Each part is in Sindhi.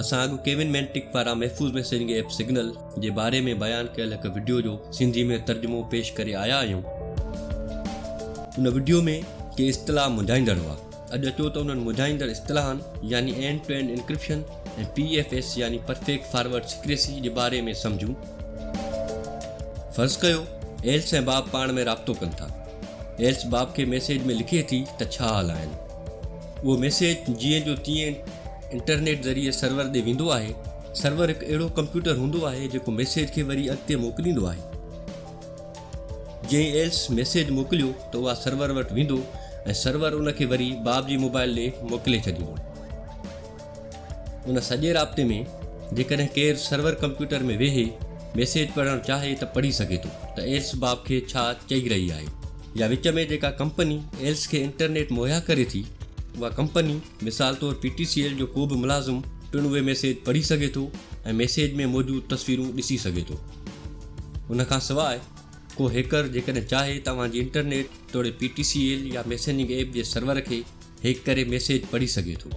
اسان اڳ ڪيون مينٽڪ پاران محفوظ ميسيجنگ ايپ سگنل جي باري ۾ بيان ڪيل هڪ وڊيو جو سنڌي ۾ ترجمو پيش ڪري آيا آهيون. ان وڊيو ۾ ڪي اصطلاح مونجهائيندڙ هئا. اڄ اچو ته انهن مونجهائيندڙ اصطلاحن يعني end to end encryption ۽ P F S يعني پرفيڪٽ فارورڊ سيڪريسي جي باري ۾ سمجهون. فرض ڪيو ايلس ۽ باب پاڻ ۾ رابطو ڪن ٿا. ايلس باب کي ميسيج ۾ لکي ٿي ته ڇا حال آهن. اهو ميسيج جيئن جو تيئن انٽرنيٽ ذريعي سرور ڏي ويندو آهي. سرور هڪ اهڙو ڪمپيوٽر هوندو آهي جيڪو ميسيج کي وري اڳتي موڪليندو آهي. جئين ايلس ميسيج موڪليو ته اها سرور وٽ ويندو ۽ سرور ان کي وري باب جي موبائل ڏي موڪلي ڇڏيندو. ان سڄي رابطي ۾ جيڪڏهن ڪير سرور ڪمپيوٽر ۾ ويهي ميسيج پڙهڻ چاهي ته پڙهي سگهي ٿو ته ايلس باب کي ڇا چئي رهي آهي يا وچ ۾ جيڪا ڪمپني ايلس کي انٽرنيٽ مهيا ڪري ٿي اها ڪمپني مثال طور پي ٽي سي ايل جو ڪو به ملازم پڻ اهي ميسيج پڙهي سگهي ٿو ۽ ميسيج ۾ موجود تصويرون ڏسي سگهي ٿو ان کان سواء ڪو هيڪر جيڪڏهن چاهي ته اوهان جي انٽرنيٽ توڙي پي ٽي سي ايل يا ميسيننگ ايپ جي سرور کي هيڪ ڪري ميسيج پڙهي سگهي ٿو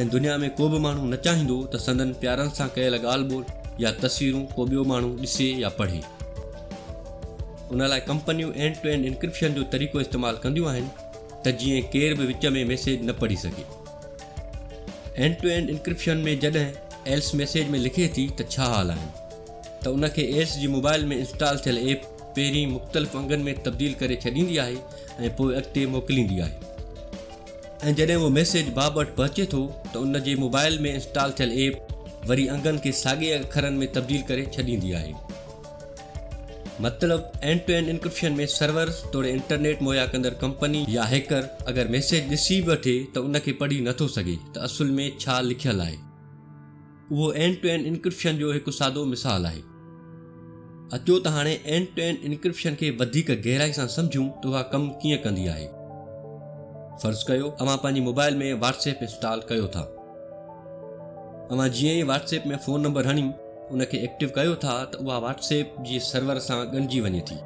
۽ دنيا ۾ ڪو به ماڻهو نه چاهيندو ته سندن پيارن سان ڪيل ڳالهه ٻولهه يا تصويرون ڪو ٻيو ماڻهو ڏسي يا پڙهي. ان لاء ڪمپنيون اينڊ ٽو اينڊ انڪرپشن جو طريقو استعمال ڪنديون آهن ته جيئن ڪير به وچ ۾ ميسيج نه پڙهي سگهي. اينڊ ٽو اينڊ انڪرپشن ۾ جڏهن ايلس ميسيج ۾ لکي ٿي ته ڇا حال آهن ته ان کي ايلس جي موبائل ۾ انسٽال ٿيل ايپ پهرين مختلف انگن ۾ تبديل ڪري ڇڏيندي آهي ۽ پوء اڳتي موڪليندي آهي ۽ جڏهن اهو ميسيج باب وٽ پهچي ٿو ته ان جي موبائل ۾ انسٽال ٿيل ايپ وري انگن کي ساڳئي اکرن ۾ تبديل ڪري ڇڏيندي آهي مطلب end to end encryption ۾ server توڙي انٽرنيٽ مهيا ڪندڙ ڪمپني يا هيڪر اگر ميسيج ڏسي به وٺي ته ان کي پڙهي نٿو سگهي ته اصل ۾ ڇا لکيل آهي. اهو اينڊ ٽو اينڊ انڪرپشن جو هڪ سادو مثال آهي. اچو ته هاڻي اينڊ ٽو اينڊ انڪرپشن کي وڌيڪ گهرائي سان سمجهون ته اها ڪم ڪيئن ڪندي آهي. فرض ڪيو اوهان پنهنجي موبائل ۾ واٽس ايپ انسٽال ڪيو ٿا. اوهان جيئن ئي واٽس ايپ ۾ فون نمبر هڻي ان کي ايڪٽو ڪيو ٿا ته اها واٽس ايپ جي سرور سان ڳنڍجي وڃي ٿي.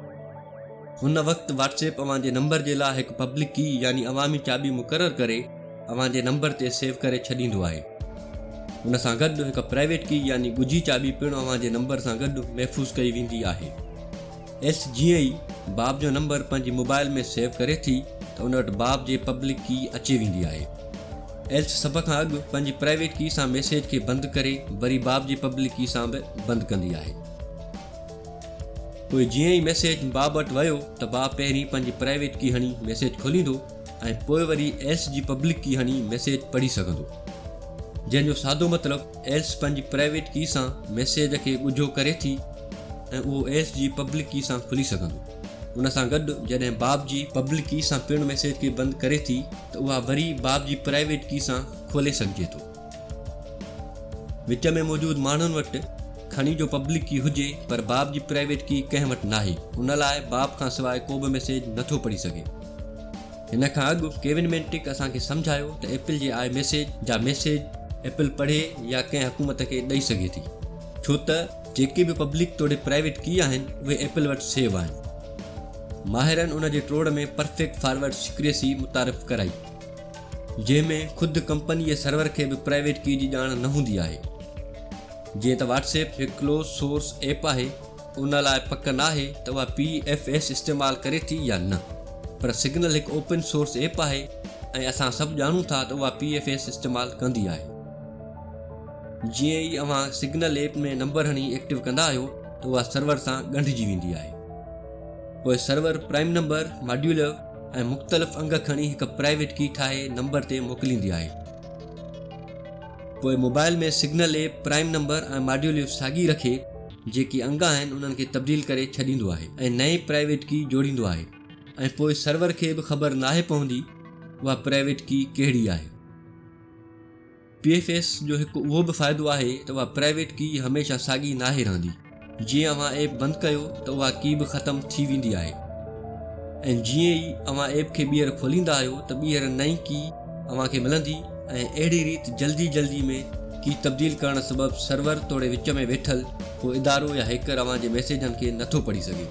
هن وقت واٽس ايپ اوهان جي نمبر جي لاء هڪ پبلڪ ڪي يعني عوامي چاٻي مقرر ڪري اوهان جي نمبر تي سيو ڪري ڇڏيندو آهي. ان سان گڏ هڪ پرائيويٽ ڪي يعني ڳجهي چاٻي پڻ اوهان جي نمبر سان گڏ محفوظ ڪئي ويندي آهي. ايس جيئن ئي باب جو نمبر پنهنجي موبائل ۾ سيو ڪري ٿي ته ان وٽ باب جي پبلڪ ڪي اچي ويندي آهي. ايس سڀ کان اڳ پنهنجي پرائيويٽ ڪي سان ميسيج کي بند ڪري وري باب جي پبلڪ ڪي سان به بند ڪندي آهي. پوء جيئن ئي ميسيج باب وٽ ويو ته باب پهرين پنهنجي پرائيويٽ ڪي هڻي ميسيج کوليندو ۽ پوء وري ايلس جي پبلڪ ڪي هڻي ميسيج پڙهي سگهندو. جنهن جو سادو مطلب ايلس پنهنجي پرائيويٽ ڪي سان ميسيج کي ڳجهو ڪري ٿي ۽ اهو ايلس جي پبلڪ ڪي سان کلي سگهندو. ان سان گڏ جڏهن باب جي پبلڪ ڪي سان پڻ ميسيج کي بند ڪري ٿي ته اها وري باب جي پرائيويٽ ڪي سان کولي سگهجي ٿو. وچ ۾ موجود ماڻهن وٽ کڻي جو پبلڪ ڪي هجي پر باب جي پرائيويٽ ڪي ڪنهن وٽ ناهي ان لاء باب کان سواء ڪوبه ميسيج نٿو پڙهي سگهي هن کان اڳ ڪيون مينٽڪ اسان کي سمجهايو ته ايپل جي آء ميسيج جا ميسيج ايپل پڙهي يا ڪنهن حڪومت کي ڏئي سگهي ٿي ڇو ته جيڪي به پبلڪ توڙي پرائيويٽ ڪي آهن اهي ايپل وٽ سيو آهن ماهرن ان جي ٽوڙ ۾ پرفيڪٽ فارورڊ سيڪريسي متعارف ڪرائي جنهن ۾ خود ڪمپني جي سرور کي به پرائيويٽ ڪي جي ڄاڻ نه هوندي آهي. جيئن ته واٽس ايپ هڪ ڪلوز سورس ايپ آهي، ان لاء پڪ ناهي ته اها پي ايف ايس استعمال ڪري ٿي يا نه، پر سگنل هڪ اوپن سورس ايپ آهي ۽ اسان سڀ ڄاڻون ٿا ته اها پي ايف ايس استعمال ڪندي آهي. جيئن ئي اوهان سگنل ايپ ۾ نمبر هڻي ايڪٽو ڪندا آهيو ته اها سرور سان ڳنڍجي ويندي آهي. پوء سرور پرائم نمبر ماڊيولر ۽ مختلف انگ کڻي هڪ پرائيويٽ ڪي ٺاهي نمبر تي موڪليندي آهي. پوء mobile ۾ Signal app prime number ۽ modulo ساڳي رکي جيڪي انگ آهن انهن کي تبديل ڪري ڇڏيندو آهي ۽ نئين پرائيويٽ ڪي جوڙيندو آهي ۽ پوء سرور کي به خبر ناهي پوندي اها پرائيويٽ ڪي ڪهڙي آهي. پي ايف ايس جو هڪ اهو به فائدو آهي ته اها پرائيويٽ ڪي هميشه ساڳي ناهي رهندي. جيئن اوهان ايپ بند ڪيو ته اها ڪي به ختم ٿي ويندي آهي ۽ جيئن ئي اوهان ايپ کي ٻيهر کوليندا آهيو ته ٻيهر نئين ڪي اوهان کي ملندي ۽ اهڙي ريت جلدي جلدي ۾ ڪي تبديل ڪرڻ سبب سرور توڙي وچ ۾ ويٺل ڪو ادارو يا هيڪر اوهان جي ميسيجن کي نٿو پڙهي سگهي.